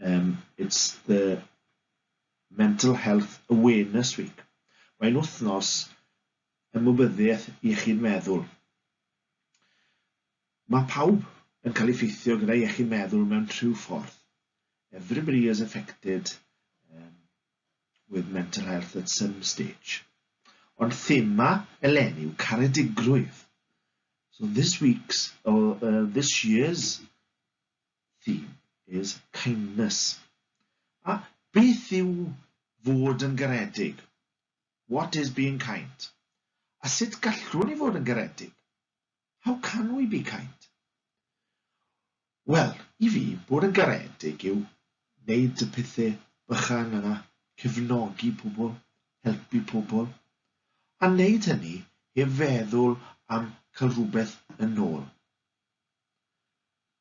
Um, it's the Mental Health Awareness Week. Mae'n wythnos ymwybyddiaeth iechyd meddwl. Mae pawb yn cael ei ffeithio gyda iechyd meddwl mewn rhyw ffordd. Everybody is affected um, with mental health at some stage. Ond thema eleni yw caredigrwydd. So this week's, or uh, this year's theme is kindness. A beth yw fod yn garedig? What is being kind? A sut gallwn ni fod yn garedig? How can we be kind? Wel, i fi, bod yn garedig yw wneud y pethau bychan yna, cefnogi pobl, helpu pobl, a wneud hynny heb feddwl am cael rhywbeth yn ôl.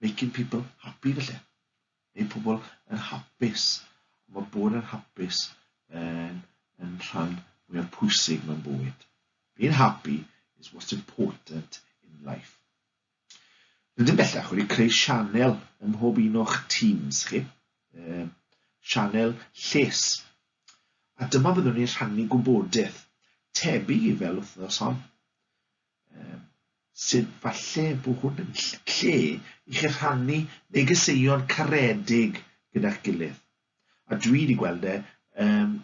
Making people happy felly. Neu pobl yn hapus. Mae bod yn hapus yn, yn rhan mwyaf pwysig mewn bywyd. Being happy is what's important in life. Rydym bellach wedi creu sianel ym mhob un o'ch teams chi, um, sianel lles. A dyma byddwn ni'n rhannu gwybodaeth, tebyg i fel wythnos hon. Yym, sut falle bo hwn yn lle i chi rhannu negeseuon caredig gyda'ch gilydd? A dwi wedi gweld e um,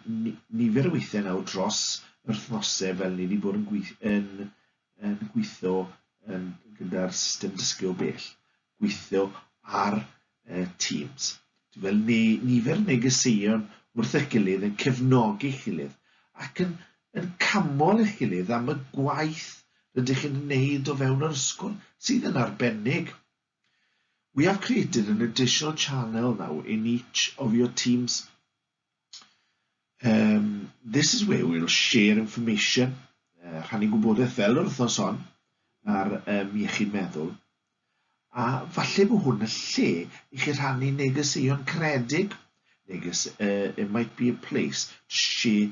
nifer o weithiau nawr dros yr wythnose fel ni wedi bod yn, gweith, yn, yn gweithio yn, gyda'r system dysgu o bell. gweithio ar Teams. Dwi'n gweld nifer negeseuon wrth eich gilydd yn cefnogi eich gilydd ac yn yn camol eich gilydd am y gwaith rydych yn wneud o fewn yr ysgol, sydd yn arbennig. We have created an additional channel now in each of your team's Um, this is where we'll share information, uh, rhannu gwybodaeth fel yr wythnos hon, ar um, iechyd meddwl. A falle bod hwn y lle i chi rhannu negeseuon caredig, neges, uh, it might be a place to share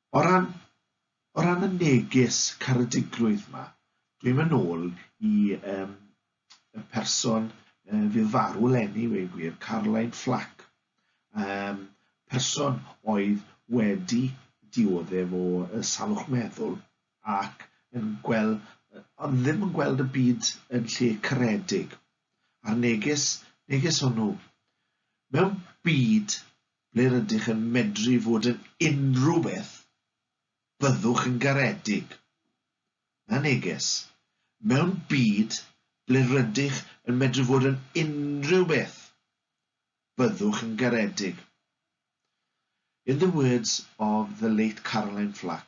O ran, o ran y neges caredigrwydd 'ma, dwi'n mynd nôl i um, y person uh, fydd farw lenni, wei gwir, Caroline Flack, um, person oedd wedi dioddef o uh, salwch meddwl ac yn gweld, uh, ond ddim yn gweld y byd yn lle caredig. A'r neges, neges hwnnw, mewn byd Ble rydych yn medru fod yn unrhyw beth, byddwch yn garedig. Na neges. Mewn byd ble rydych yn medru fod yn unrhyw beth, byddwch yn garedig. In the words of the late Caroline Flack,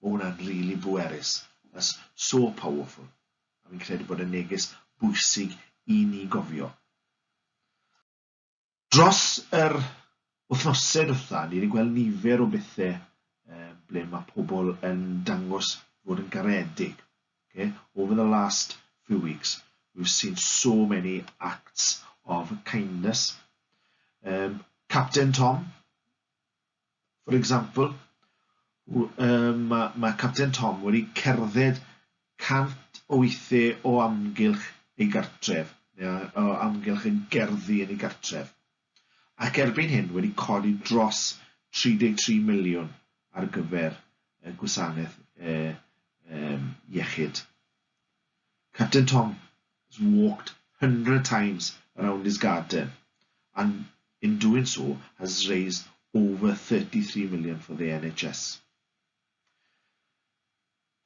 Ma hwnna'n rili bwerus. That's so powerful. A fi'n credu bod e'n neges bwysig i ni gofio. Dros yr wythnose dwetha, ni wedi gweld nifer o bethe ble mae pobl yn dangos fod yn garedig. Okay? Over the last few weeks, we've seen so many acts of kindness. Um, Captain Tom, For example, um, mae, mae Capten Tom wedi cerdded cant o weithiau o amgylch ei gartref, neu o amgylch y gerddi yn ei gartref, ac erbyn hyn wedi codi dros 33 miliwn ar gyfer y gwasanaeth e, e, iechyd. Capten Tom has walked hundred times around his garden and in doing so has raised over thirty three million for the NHS.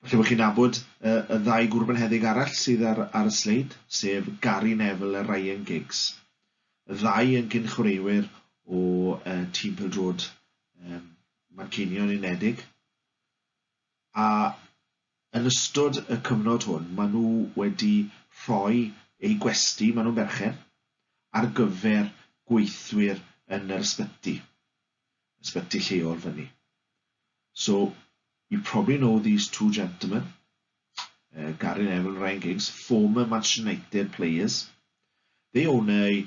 Falle bod chi'n nabod y, y ddau gwrbenheddig arall sydd ar, ar y sleid, sef Gary Neville a Ryan Giggs. Y ddau yn gynchwreiwyr o uh, tîm pildrod um, Manceinion Unedig. a yn ystod y cyfnod hwn maen nhw wedi rhoi eu gwesty, maen nhw'n berchen, ar gyfer gweithwyr yn yr ysbyty, ysbyty lleol fyny. So, you probably know these two gentlemen, uh, Gary Neville and Ryan Giggs, former Manchester United players. They own a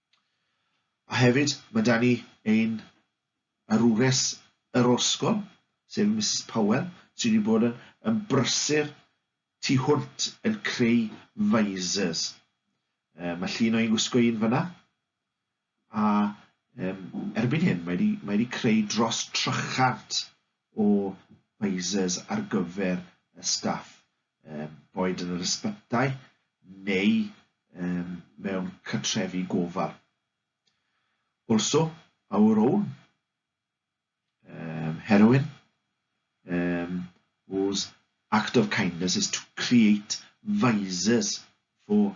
A hefyd, mae 'da ni ein arwres yr orsgol, sef Misus Powell, sy wedi bod yn yn brysur tu hwnt yn creu visors. Yy, mae llun o'i gwisgo un fyna, a um, erbyn hyn mae wedi, mae wedi creu dros 300 o visors ar gyfer y staff, um, boed yn yr ysbytai neu um, mewn cytrefi gofal. Also, our own um, heroine, um, whose act of kindness is to create visors for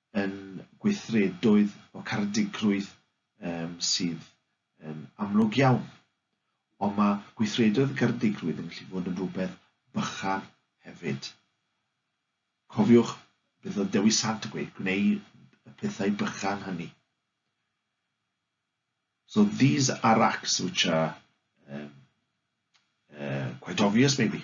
yn gweithredoedd o caredigrwydd um, sydd yn amlwg iawn. Ond mae gweithredoedd garedigrwydd yn gallu bod yn rhywbeth bychan hefyd. Cofiwch beth oedd Dewi Sant yn gweud, gwneud y pethau bychan hynny. So these are acts which are um, uh, quite obvious maybe.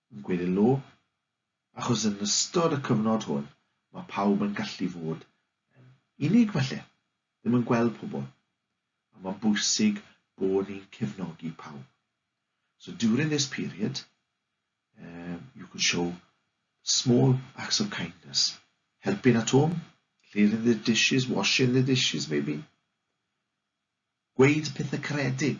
yn gweddil nhw, achos yn ystod y cyfnod hwn mae pawb yn gallu fod yn unig falle, ddim yn gweld pobl, a mae'n bwysig bod ni'n cefnogi pawb. So during this period, um, you can show small acts of kindness, helping at home, clearing the dishes, washing the dishes maybe, gweud pethau caredig,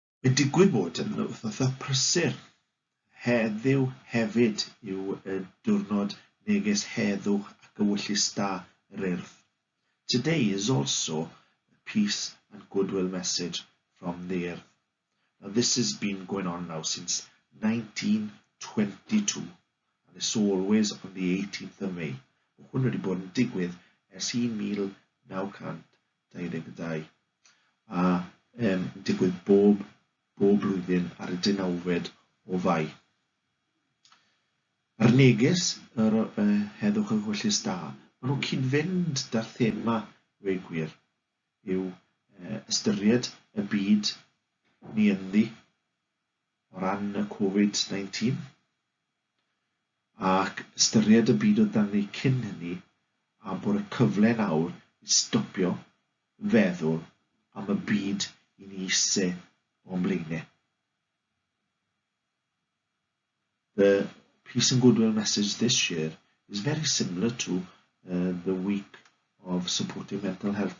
Mae'n digwydd bod yn wythnosau prysur. Heddiw hefyd yw y diwrnod megis heddwch ac ewyllys da yr Urdd. Today is also a peace and goodwill message from the Urdd. Now this has been going on now since 1922 and it's always on the 18th of May. Mae hwn wedi bod yn digwydd ers 1922. 2022, a yn digwydd bob bob blwyddyn ar y deunawfed o Fai. A'r neges yr y heddwch yng Nghwellus Da, maen nhw'n cyd-fynd da'r thema we gwir, yw ystyried y byd ni ynddi o ran y Covid 19, ac ystyried y byd o dyngu cyn hynny a bod y cyfle'n awr i stopio feddwl am y byd i ni ise o'n blaen e. The peace and goodwill message this year is very similar to uh, the week of supporting mental health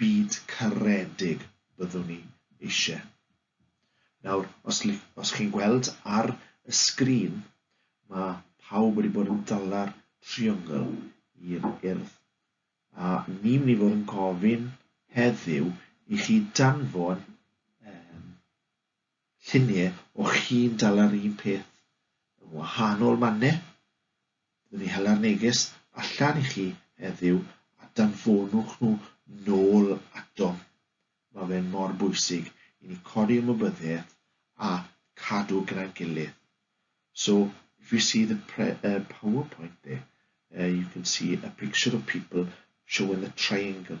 byd caredig byddwn ni eisiau. Nawr, os, os chi'n gweld ar y sgrin, mae pawb wedi bod yn dala'r triongl i'r urdd. A ni'n mynd i fod yn gofyn heddiw i chi danfon um, Lluniau o chi'n dal ar un peth yn wahanol manne. Byddwn ni hela'r neges allan i chi heddiw a danfonwch nhw nôl atom. Mae fe'n mor bwysig i ni codi ymwybyddiaeth a cadw gyda'n gilydd. So, if you see the uh, PowerPoint there, uh, you can see a picture of people showing the triangle.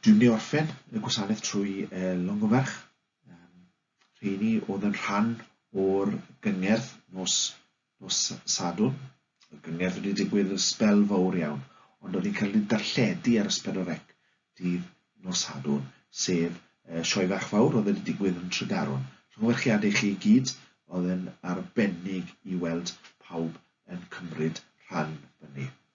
Dwi'n mynd i orffen y gwasanaeth trwy e, Longymerch. Um, rheini oedd yn rhan o'r gyngerdd nos, nos Sadwn. Y gyngerdd wedi digwydd yn sbel fawr iawn, ond oedd hi'n cael ei darlledu ar ysbel o rec dydd nos Sadwn, sef uh, sioe fach fawr oedd wedi digwydd yn Tregaron. Llongyfarchiadau i chi i gyd, oedd yn arbennig i weld pawb yn cymryd rhan fyny.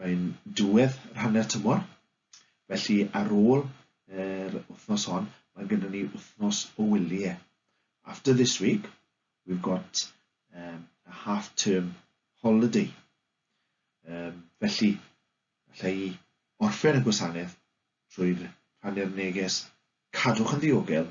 Mae'n diwedd rhannau'r tymor, felly ar ôl yr wythnos hon, mae gyda ni wythnos o wyliau. After this week, we've got um, a half-term holiday. Um, felly, allai i orffen y gwasanaeth trwy rhannu'r neges cadwch yn ddiogel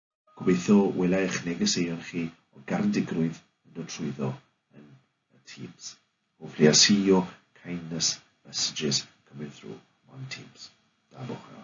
Gobeithio wela eich negeseuon chi o Garedigrwydd yn dod trwyddo yn y Teams. Hopefully I'll see your kindness messages coming through on Teams. Da bwch a.